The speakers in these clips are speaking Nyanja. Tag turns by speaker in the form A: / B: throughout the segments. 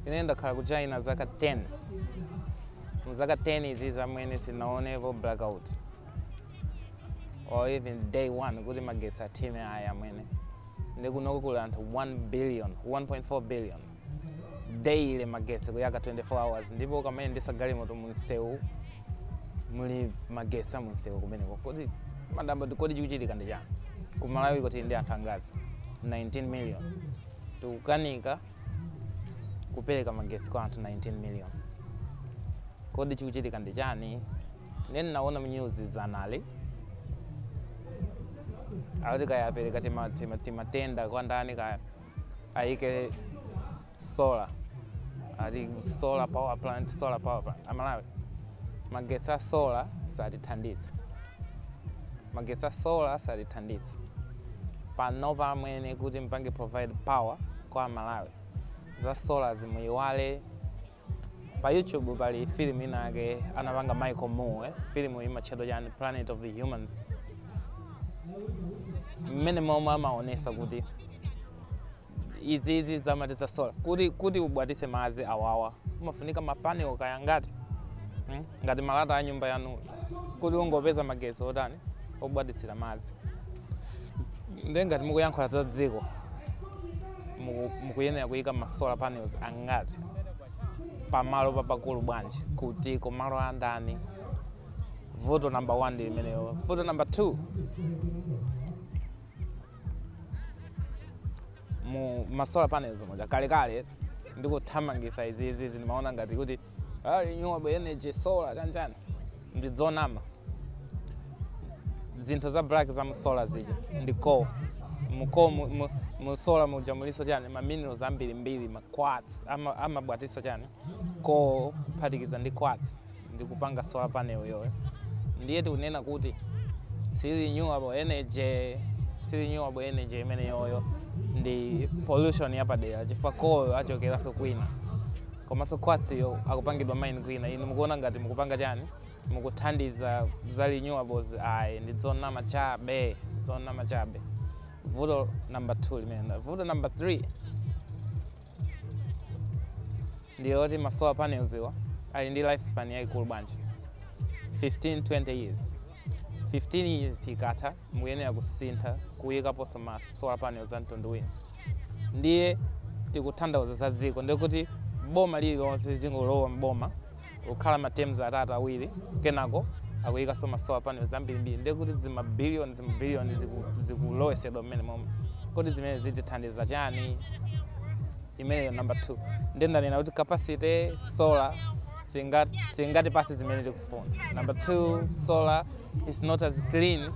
A: Ine ndakhala ku China zaka 10. Mu zaka 10 izi zamene sinaonepo blackout or even day one kuti magetsi athime ayi amwene. Ndi kunoko kuli anthu 1 billion, 1.4 billion daily magetsi kuyaka 24 hours ndipo ukamayendetsa galimoto mu msewu muli magetsi a mu msewu kumeneko. Koma ndadabwa kodi chikuchitika ndi chani? Ku Malawi kuti tili ndi anthu angazi 19 million. Tikukanika kupereka magesi kwa anthu 19 million kodi chikuchitika ndi chani ine ndinaona mnyuzi dzana ali akuti kaya apereka tima- tima- timatenda kwa ndani kaya ayike solar ati solar power plant solar power plant amalawi magetsi a solar satithandizayi magetsi a solar satithandizayi panopa muyenera kuti mupange provide power kwa amalawi za solarzi muyiwale pa youtube pali filimu ina yake anapanga michael moore filimu imatchedwa chani planet of the humans mmene momwe amaonesa kuti izi izi zoti za sola kuti kuti ubwatise madzi awa awa umafunika mapanel kaya ngati mm? ngati malata a nyumba yanu kuti ungopeza magetsi otani obwatitsira madzi nde ngati mukuyankhula za dziko muku- mukuyenera kuyika ma solar panels angati pamalo papakulu bwanji kuti komanso malo andani vuto number one ndi imeneyo vuto number two mu ma solar panels muja kalekale ndikuthamangisa izizi zimaoneka ngati kuti ah, renewable energy solar chanchani ndi zonama zinthu za black za mu solar zija ndi coal mu coal mu, mu, mu solar muja muliso chani ma minerals ambirimbiri ma quartz ama- amabwatisa chani coal kuphatikiza ndi quartz ndi kupanga solar panel iyoyo ndiye tikunena kuti si renewable energy si renewable energy imeneyoyo ndi pollution yapadera chifukwa coal achokeranso kwina komanso quartz-yo akupangidwa mine kwina inu mukuona ngati mukupanga chani mukuthandiza za renewables ayi ndi zonama chabe zonama chabe vuto number 2 limenelo vuto number 3 ndi loti ma solar panels awa ali ndi lifespan yayikulu bwanji 15 20 years 15 years ikatha mukuyenera kusintha kuyikaponso ma solar panels a mtundu wina ndiye tikutanthauza za dziko ndikuti boma lililonse likungolowa mboma kukhala ma teams atatu awiri kenako akuyikaso ma solar panels ambirimbiri ndiye kuti zima billion zima billion ziku- zikulowesedwa mmenemoma kodi zimene zitithandiza chani imene number 2 ndiye ndanena kuti capacity solar singa- singatipase zimene tikufuna number 2 solar is not as clean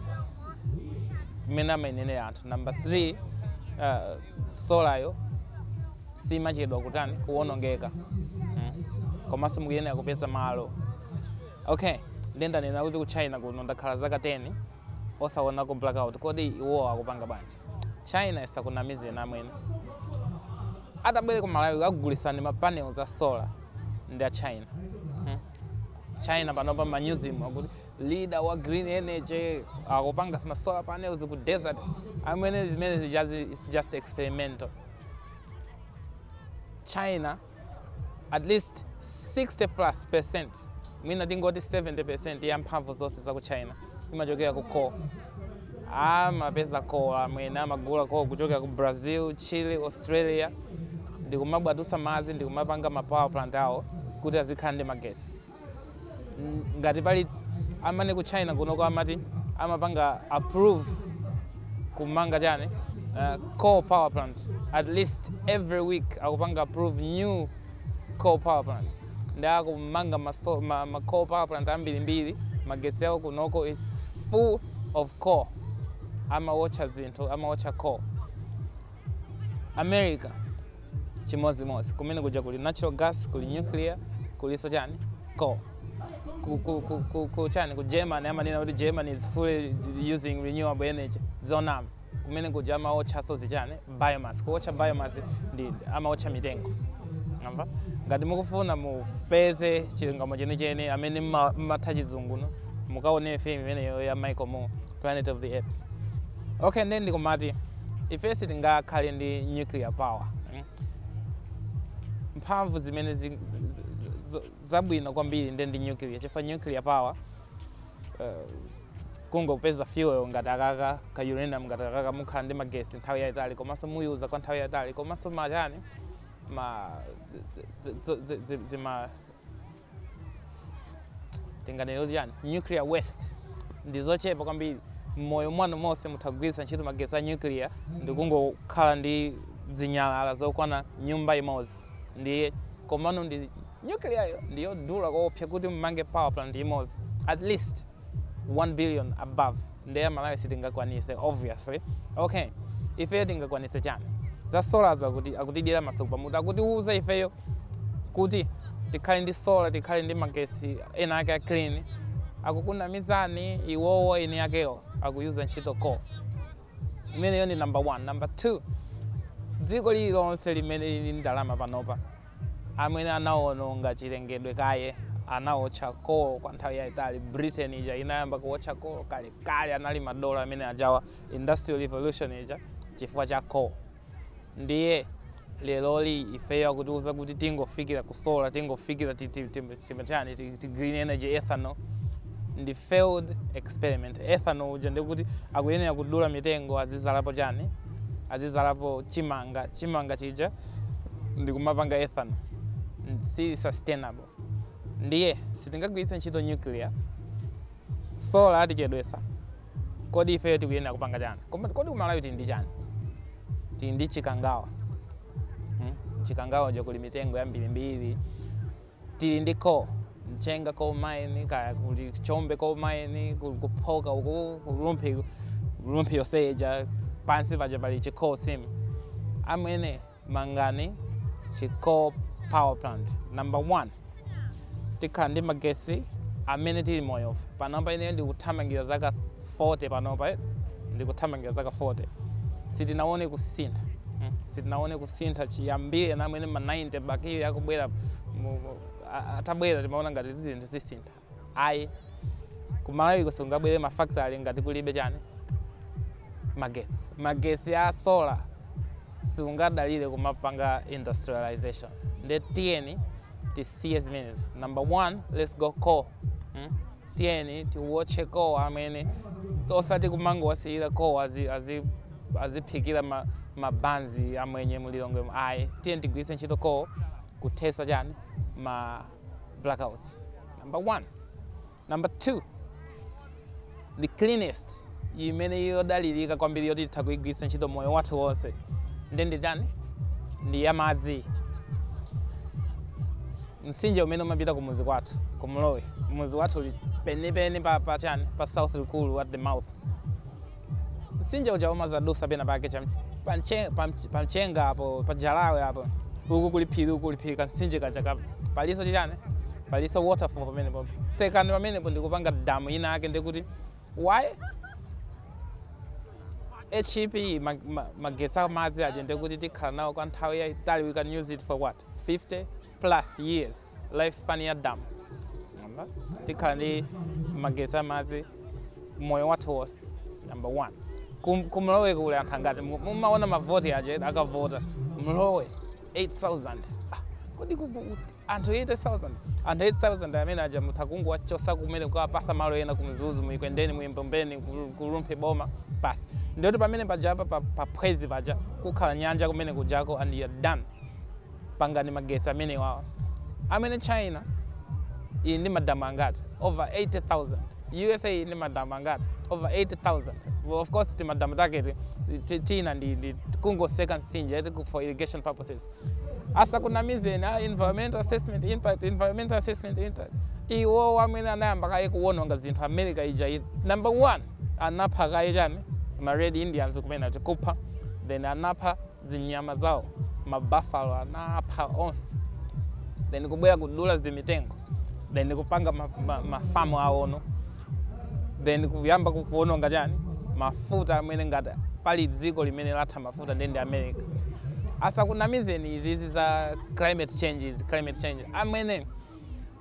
A: mmene amanenera anthu number 3 uh, solayo simachedwa kutani kuwonongeka mm. komaso mukuyenera kupeza malo okay nde ndanena kuti ku china kuno ndakhala zaka 10 osaonako blackout kodi iwowo akupanga bwanji china isakunamizeni amene atabwere ku malawi kukugulisani ma panels a solar ndi a china hmm. china panopa manyuzimu akuti ndi leader wa green energy akupanga ma solar panels ku desert amwene zimene zijazo is just experimental china at least 60 plus percent mwina tingoti 70 percent ya mphamvu zonse za ku china imachokera ku coal amapeza coal amwene amagula coal kuchokera ku brazil chile australia ndikumabwatutsa madzi ndikumapanga ma power plant awo kuti azikhala ndi magetsi mm, ngati pali amwene ku china kunoko amati amapanga approve kumanga chani uh, coal power plant at least every week akupanga approve new coal power plant ndi akumanga ma, so- ma, ma coal power plant ambirimbiri magetsi awo kunoko is full of coal amawotcha zinthu amawotcha coal america chimodzimodzi kumene kuja kuli natural gas kuli nuclear kuliso chani coal ku, ku, ku, ku, ku chani ku germany amanena kuti germany is fully using renewable energy zonama kumene kuja amaotchaso zichani biomass kuotcha biomass ndi amaotcha mitengo amwene ngati mukufuna mupeze chilungamo chenicheni amwene mma- mmatha chizunguno mukaone filimu imeneyo ya michael moore planet of the humans okay nde ndikumati ife sitingakhale ndi nuclear power mm? mphamvu zimene zi- z- z- zabwino kwambiri nde ndi nuclear chifukwa nuclear power uh, kungokupeza fuel ngati akaka ka uranium ngati akaka mukhala ndi magesi nthawi yayitali komanso muyiyuza kwa nthawi yayitali komanso machani ma zi- zi- zi- zi- zima tinganene kuti chani nuclear waste ndi zochepa kwambiri mmoyo mwanu monse mutha kugwiritsa ntchito magetsi a nuclear ndi kungokhala ndi zinyalala zokwana nyumba imodzi ndiye komano ndi nuclear yo ndiyodula koopsya kuti mmange power plant imodzi at least 1 billion above nde Amalawi sitingakwanise obviously okay ifeyo tingakwanise chani za solar zo akutidyera masuku pamutu akutiuza ifeyo kuti tikhale ndi solar tikhale ndi magesi ena ake a clean akukunamizani iwowo eni akewo akuyuza ntchito coal imeneyo ndi number one number two dziko lililonse limene lili ndi ndalama panopa amwene anawononga chilengedwe kaye anawotcha coal kwa nthawi yaitali britain ija inayamba kuwotcha coal kale kale anali madolo amene ajawa industrial revolution ija chifukwa cha coal ndiye lero li ifeyo akutiuza kuti tingofikira ku solar tingofikira ti- ti- ti- timatani ti- ti- green energy ethanol ndi failed experiment ethanol uja ndikuti akuyenera kudula mitengo azidzalapo chani azidzalapo chimanga chimanga chija ndikumapanga ethanol si sustainable ndiye sitingagwiritse ntchito nuclear solar yatichedwetsa kodi ifeyo tikuyenera kupanga chani Koma- kodi ku Malawi tili ndi chani tili ndi Chikangawa hmm? Chikangawa ija kuli mitengo yambirimbiri tili ndi coal mchenga coal mine kaya kuli chombe coal mine kuli ku Phoka uku ku Rumphi Rumphi yonse ija pansi paja pali chi coal seam amwene mangani chi coal power plant number one tikhala ndi magesi amene tili moyo panopa ine ndikuthamangira zaka 40 panopa eti ndikuthamangira zaka 40 sitinaone kusintha mm, sitinaone kusintha chiyambire amwene ma 90 Bakili akubwera mu- mu- a- a- atabwera timaona ngati zinthu zisintha ayi ku Malawi kusungabwere mafactory ngati kulibe chani magetsi magetsi a solar sungadalire kumapanga industrialization nde tiyeni tisiye zimenezo number one let's go coal mm? tiyeni tiwotche coal amwene osati kumangowasiyira coal azi, azi, aziphikira ma, mabanzi amwenye mu lilongwe mu ayi tiyeni tigwiritse ntchito coal kuthetsa chani ma blackouts number one number two the cleanest imene yodalirika kwambiri yoti titha kuigwiritsa ntchito moyo wathu wonse ndi ndi chani ndi ya madzi Mtsinje umene umapita kumudzi kwathu ku Mlowe. Mudzi wathu uli pompenipeni pa pa chani pa South Rukuru at the mouth. Mtsinje uja umadzadutsa pena pake cha mch- pa mche- pa mch- pa mchenga apo pa jalawe apo uku kuli phiri uku kuli phiri kamtsinje kaja ka palinso chani palinso waterfall pamenepo tsekani pamenepo ndikupanga damu ina ake ndikuti why hip ma- ma- magetsi amadzi achimwene kuti tikhala nawo kwa nthawi yayitali we can use it for what 50 plus years lifespan ya dam tikhala ndi magetsi amadzi moyo wathu wonse number one Kum- kumlowe kuli anthu angati Mu- mumaona mavoti aja akavota mlowe 8000 ah, kodi kuli anthu 80000 anthu 8000 amene aja mutha kungowachosa kumene kukawapasa malo ena kumzuzu muekwendeni muembombeni ku- kulumphe boma basi ndiye kuti pamene pajapa pa- paphwezi paja kukhala nyanja kumene kujako and you're done pangani magesi amene awo amwene china ili ndi madamu angati over 80000 usa ili ndi madamu angati over 8000 well, of course timadamu taketo ti- tina ndi, ndi kungoseka nsinje eti ku- for irrigation purposes asakunamizeni a environmental assessment impact environmental assessment impact iwo amwene anayamba kaye kuwononga zinthu america ija i- number one anapha kaye chani ma red indians kumene eti kupha then anapha zinyama zawo ma buffalo anapha onse then kubwera kudula zimitengo then kupanga mafamu ma, ma farm awono then kuyamba ku- kuwononga chani mafuta amwene ngati pali dziko limene latha mafuta ndiye ndi america asakunamizeni izizi za climate change izi climate change amwene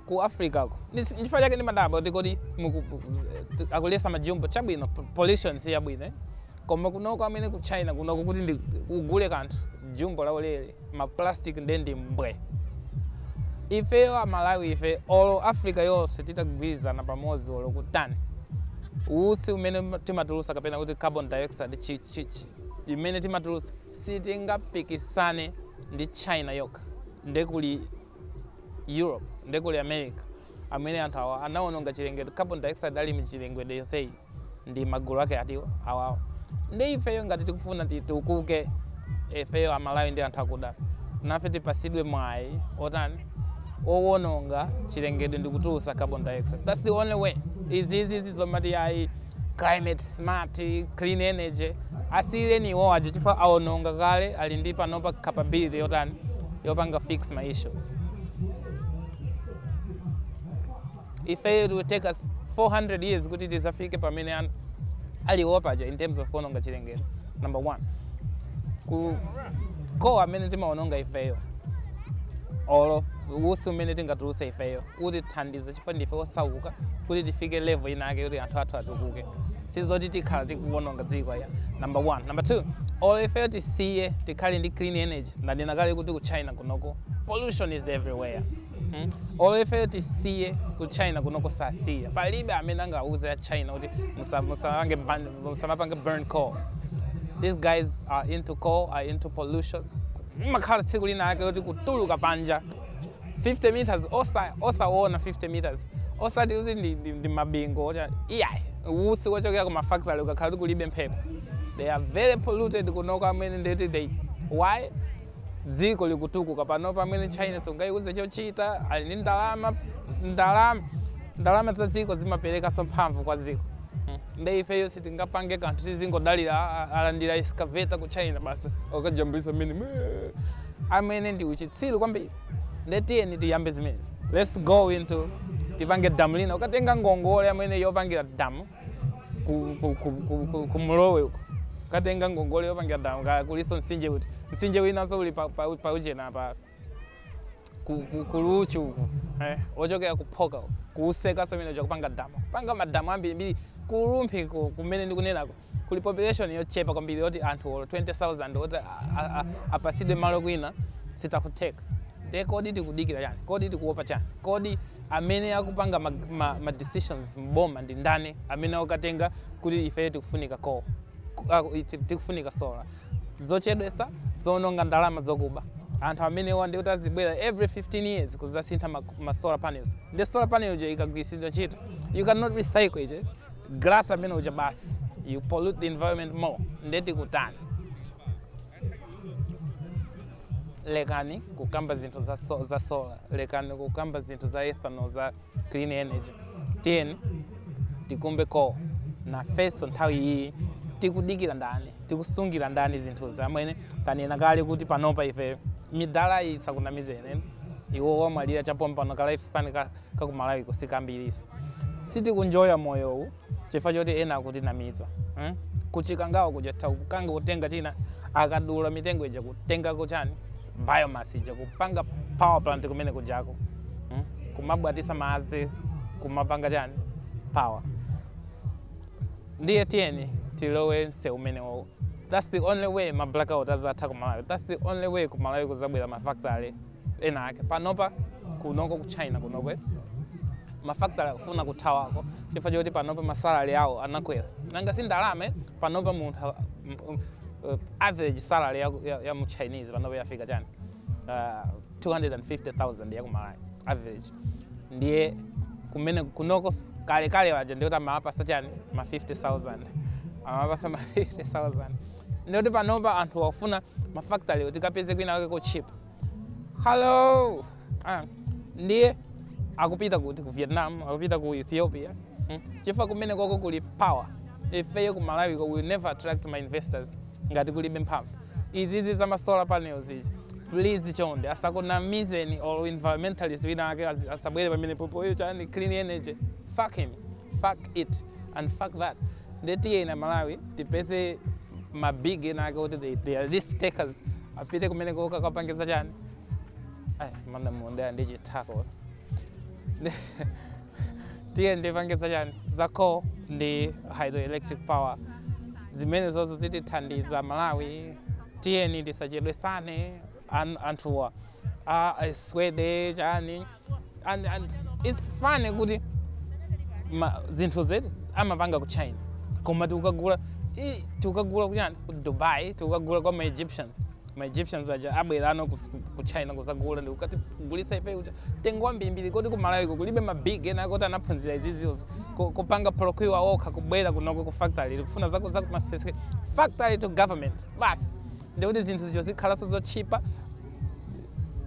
A: ku africa ku ndichifukwa chake ndimadabwa kuti kodi akuletsa majumbo chabwino pollution si yabwino eh? koma kunoko amwene ku china kunoko kuti ugule kanthu jumbo la ulere ma plastic nde ndi mbwe ifeyo amalawi ife olo africa yonse titagwirizana pamodzi olo kutani utsi umene timatulusa kapena kuti carbon dioxide chi, chi, chi, imene timatulusa sitingapikisane ndi china yokha nde kuli Europe, nde kuli America, amwene anthu awa anawononga chilengedwe, carbon dioxide ili m'chilengedwe yonseyi, ndi magulu ake ati awawa. Nde ifeyo ngati tikufuna titukuke, ifeyo Amalawi ndi anthu akuda, nafe tipatsidwe mwayi wotani, wowononga chilengedwe ndi kutulutsa carbon dioxide. That's the only way. Izizizi zomati ayi climate smart, clean energy asiyireni iwowajo chifukwa awononga kale ali ndi panopa capability yotani yopanga fix ma issues ife it will take us 400 years kuti tizafike pamene an- aliwo paja in terms of kuononga chilengedwe number one ku kowa amene timaononga ifeyo olo usi umene tingatuluse ifeyo kutithandiza chifukwa ndife osauka kuti tifike level ina yake kuti anthu athu atukuke sizoti tikhala tikuwononga dziko ya number one number two or ifeyo tisiye tikhale ndi clean energy ndanena kale kuti ku china kunoko pollution is everywhere hmm? or ifeyo tisiye ku china kunoko sasiya palibe amene angauze a china kuti musa- musapange ban- musamapange burn coal these guys are into coal are into pollution umakhala tsiku lina yake kuti kutuluka panja 50 meters osa osaona 50 meters osati kuti ndi, ndi, ndi mabingo oti iyayi utsi wochokera ku mafactory ukakhala kuti kulibe mphepo they are very polluted kunoko amwene nde that's why dziko likutukuka pano pamene china sungayiuze chochita ali ndi ndalama ndalama ndalama za dziko zimaperekanso mphamvu kwa dziko Mm. nde ifeyo sitingapange kanthu tizingodalira a- a- alandira excavator ku china basi kukajambulisa amwene amene ndi uchitsiru kwambiri nde tiyeni tiyambe zimenezi let's go into tipange damu lina ukatenga ngongole amwene yopangira damu ku, ku, ku, ku, ku, ku mlowe uko ukatenga ngongole yopangira damu kaya kuliso mtsinje uti mtsinje winanso uli pa, pa, pa ujena pa ku, ku, kuluchu uko eh, ochokera kuphoka uko kuutseka umene kupanga damu kupanga madamu ambirimbiri kulumphe ko kumene ndikunenako kuli population yochepa kwambiri yoti anthu olo 20000 oti a- a- a- apasidwe malo kwina zitha kutheka nde kodi tikudikira chani kodi tikuopa chani kodi amene akupanga ma, ma, ma decisions mboma ndi ndani amene akukatenga kuti ife tikufunika ko ku- ah, iti- tikufunika sola zochedwesa zoononga ndalama zokuba anthu amenewa ndi kuti azibwera every 15 years kuzasintha ma, ma solar panels ndi solar panel yo ikagwiritsidwa ntchito you cannot recycle it eh? glass amene uja basi you pollute the environment more nde tikutani lekani kukamba zinthu za, so, za solar lekani kukamba zinthu za ethanol za clean energy tiyeni tikumbe ko nafenso nthawi iyi tikudikira ndani tikusungira ndani zinthuzi amwene tanena kale kuti panopa ife midalayi isakunamizeni iwo wamwalira cha pompano ka lifespan ka kakumalawiko sikambiriso sitikuenjoya moyowu chifukwa choti ena akutinamiza hmm? kuchikangawa kuja takukanika kutenga china akadula mitengo ija kutengako chani biomass ija kupanga power plant kumene kujako hmm? kumabwatitsa madzi kumapanga chani power ndiye tiyeni tilowe msewu umenewowo that's the only way ma blackout azatha ku malawi that's the only way ku malawi kuzabwera ma factory ena ake panopa kunoko ku china kunokwe mafactory akufuna kuthawako chifukwa choti panopa masalary awo anakwera nanga si ndalama panopa munthu a- m- m- uh, average salary ya, ya, ya mu chinese panopa yafika chani uh, 250000 yakumalawi average ndiye kumene kunoko s- kalekale waja ndikuti amawapatsa chani ma 50000 amawapatsa ma 50000 ndikuti panopa anthu akufuna mafactory tikapeze kwina kwake kotchipa hello ah, ndiye akupita kuti ku vietnam akupita ku ethiopia hmm? chifukwa kumene kwako kuli power ifeyo ku malawi ko we will never attract ma investors ngati kulibe mphamvu izizi za masolar panels izi please chonde asakunamizeni olo environmentalist wina ake azi- asabwere pamene popoyo chani clean energy fuck him fuck it and fuck that nde tiyeni amalawi tipeze ma big ena ake oti they, they are risk takers apite kumene koko akapangitse chani Ai, mana muondeya ndi chithako Ndi- tiyeni tipangitse chani za coal ndi hydroelectric power zimene zozo zitithandiza malawi tiyeni tisachedwesane an- anthuwa a aswede chani and, and it's funny kuti ma, zinthu zoti amapanga ku china koma tikukagula i- tikukagula kujani ku dubai tikukagula kwa ma egyptians ma egyptians aja abwera kuno ku, ku china kuzagula ndikukatigulitsa ife mtengo wambirimbiri kodi kumalawiko kulibe ma big ena oti anaphunzira izizizi ku- kupanga procure okha kubwera kunoko ku factory kufuna zaku zaku ma specific factory to government basi ndikuti zinthu zijo zikhalanso zotchipa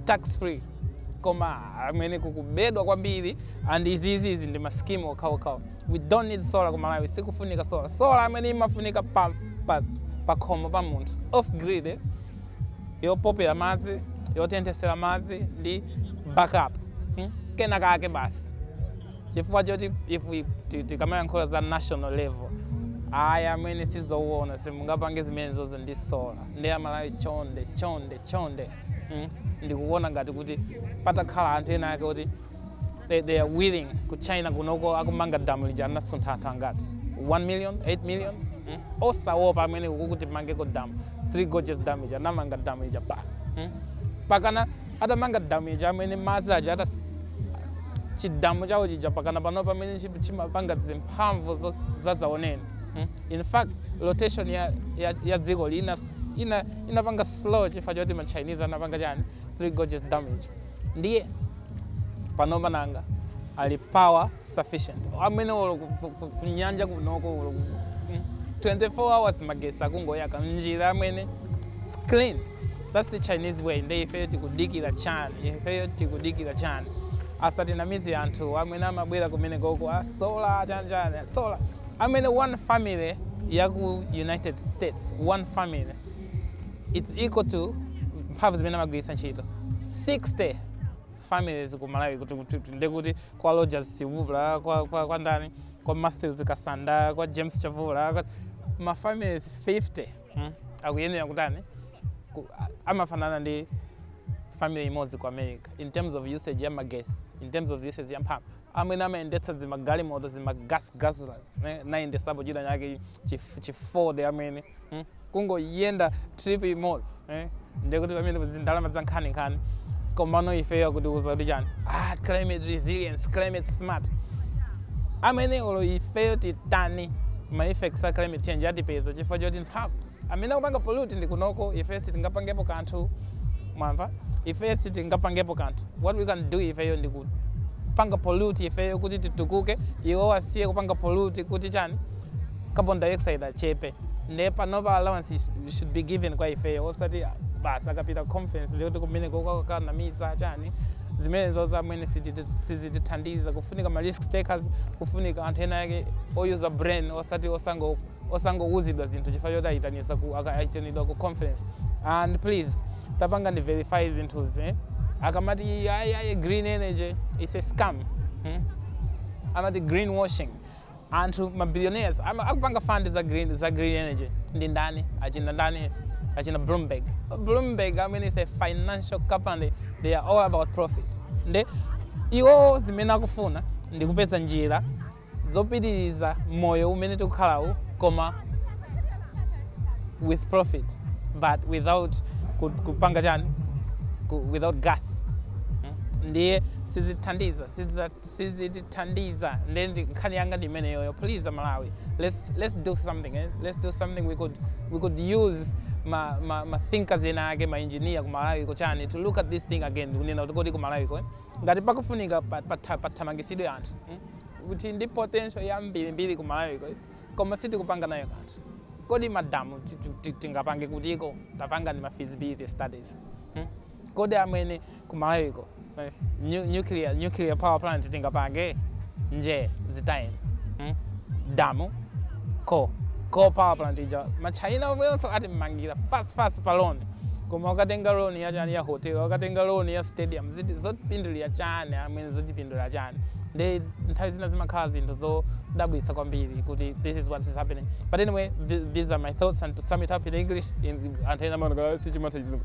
A: tax free koma amwene kukubedwa kwambiri and iziizizi ndi maskimu okhaokhawo we don't need solar ku malawi sikufunika solar solar amwene imafunika pa, pa, pa khomo pa munthu off grid eh? yopopera madzi yotenthesera madzi ndi backup hmm? kenakake basi chifukwa choti if we- ti- tikamayankhula za national level ayi amwene sizowona simungapange zimene zozo ndi sola ndiye amalawi chonde chonde chonde mm? ndikuona ngati kuti patakhala anthu ena ake oti they, they are willing ku china kunoko akumanga damu lija anasuntha anthu angati 1 million 8 million mm? osawopa amwene akuti timangeko damu 3 gorges damu ija anamanga damu ija pa mm? pakana atamanga damu ija amwene madzi aja atas chidamu chawo chija pakana pano pamene chi- chimapanga zimphamvu zo- zadzaoneni mm? in fact rotation ya, ya, ya dziko lina ina inapanga slow chifukwa choti ma chinese anapanga chani three gorges dam ija ndiye panopa nanga ali power sufficient amene olo ku- ku- ku- kunyanja kunoko olo ku- mm, 24 hours magesi akungoyaka mnjira amene it's clean that's the chinese way nde ifeyo tikudikira chani ifeyo tikudikira chani asatinamize anthu amene amabwera kumeneko a solar chani a solar amene one family yaku united states one family it's equal to mphamvu zimene amagwiritsa ntchito 60 families ku malawi kuti kuti kuti ndiye kuti kwa rogers chivula kwa, kwa, kwa ndani kwa matthews kasanda kwa james chavula kwa- ma families 50 mm, akuyenera kutani ku- a- amafanana ndi family imodzi ku america in terms of usage ya magesi in terms of usage ya mphamvu amwene amayendetsa zimagalimoto zima gas guzzlers nayendesapo china chake chi Ford amwene mm. kungoyenda trip imodzi eh? ndiye kuti pamene pali ndalama za nkhaninkhani komano ifeyo akutiuza kuti chani ah, climate resilience climate smart amwene olo ifeyo titani ma effects a climate change atipeza chifukwa choti mphamvu amene akupanga pollute ndi kunoko ifeyo sitingapangepo kanthu mwamva ifeyo sitingapangepo kanthu what we can do ifeyo ndi kupanga pollute ifeyo kuti titukuke iwo asiye kupanga pollute kuti chani carbon dioxide achepe nde panopa allowance sh- should be given kwa ifeyo osati basi akapita conference ndikuti kumene kokakanamiza chani zimenezo zamene siziti- sizitithandiza kufunika ma risk takers kufunika anthu ena ake oyuza brain osati osango osangouzidwa zinthu chifukwa choti ayitanisa ku aka- ayitanidwa ku conference and please tapangani verify zinthuzi eh? akamati ayi ayi green energy it's a scam hmm? amati greenwashing anthu ma billionaires ama- akupanga fund za green, za green energy ndi ndani achina ndani achina bloomberg bloomberg i mean is a financial company they are all about profit nde iwo zimene akufuna ndi kupeza njira zopitiriza moyo umene tikukhalawu koma with profit but without ku- kupanga chani ku- without gas Mm. ndiye sizithandiza siziza- sizitithandiza nde ndi- nkhani yanga ndi imeneyoyo please amalawi let's, let's do something eh? let's do something we could, we could use ma, ma, ma thinkers ena ake ma engineer ku malawi ko chani to look at this thing again kunena kuti kodi ku malawi ko eh? ngati pakufunika pa- patha- pathamangisidwe anthu eh? kuti ndi potential yambirimbiri ku malawi ko eh? koma sitikupanga nayo kanthu kodi madamu ti- ti- ti- tingapange kutiko tapangani ma feasibility studies hmm? kodi amwene kumalawiko eh, nu- nuclear, nuclear power plant tingapange nje zitayeni mm? damu ko ko power plant ija machina omwenso atimmangira fast fast pa loan koma ukatenga loan ya chani ya hotel ukatenga loan ya stadium ndi zotipindulira chani amwene zotipindulira chani ndi nthawi zina zimakhala zinthu zodabwitsa kwambiri kuti this is what is happening but anyway th these are my thoughts and to sum it up in english in, anthu ena amaonera sichimatha chizungu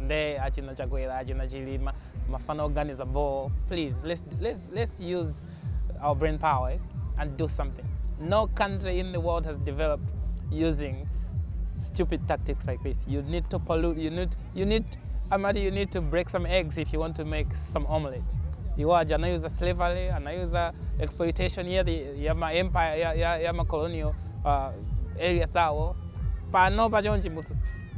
A: nde achina chakwera achina chilima mafana oganiza boo please let's, let's, let's use our brain power eh, and do something no country in the world has developed using stupid tactics like this you need to pollute you need you need amati you need to break some eggs if you want to make some omelette iwo aja anayuza slavery anayuza exploitation ya, the, ya ma empire ya, ya, ya ma colonial uh, areas awo pano pachonchi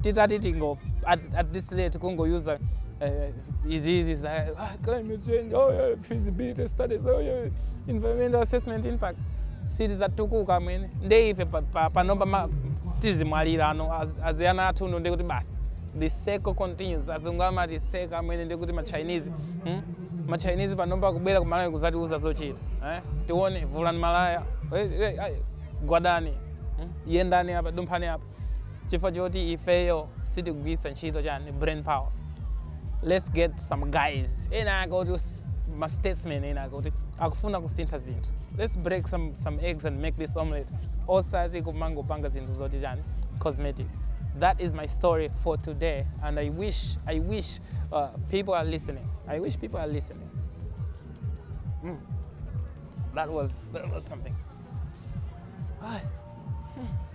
A: titati tingo at, at this rate kungo user uh, izi izi za ah, climate change oh yeah, feasibility studies oh yeah, environmental assessment impact sitizatukuka amwene nde ife pa- pa- panomba ma- tizimwalira ano az- aziyana athu uno ndikuti basi the circle continues azungu amatiseka amwene ndikuti machinese hmm? machinese panomba kubwera kumalawi kuzatiuza zochita eh? tione vulani malaya eh, eh, eh, gwadani hmm? yendani apa dumphani apa chifukwa choti ifeyo sitigwiritsa ntchito chani brain power let's get some guys ena ake oti ma statesmen ena ake oti akufuna kusintha zinthu let's break some, some eggs and make this omelette osati kumangopanga zinthu zoti chani cosmetic that is my story for today and i wish i wish uh, people are listening i wish people are listening mm. that was that was something Ay.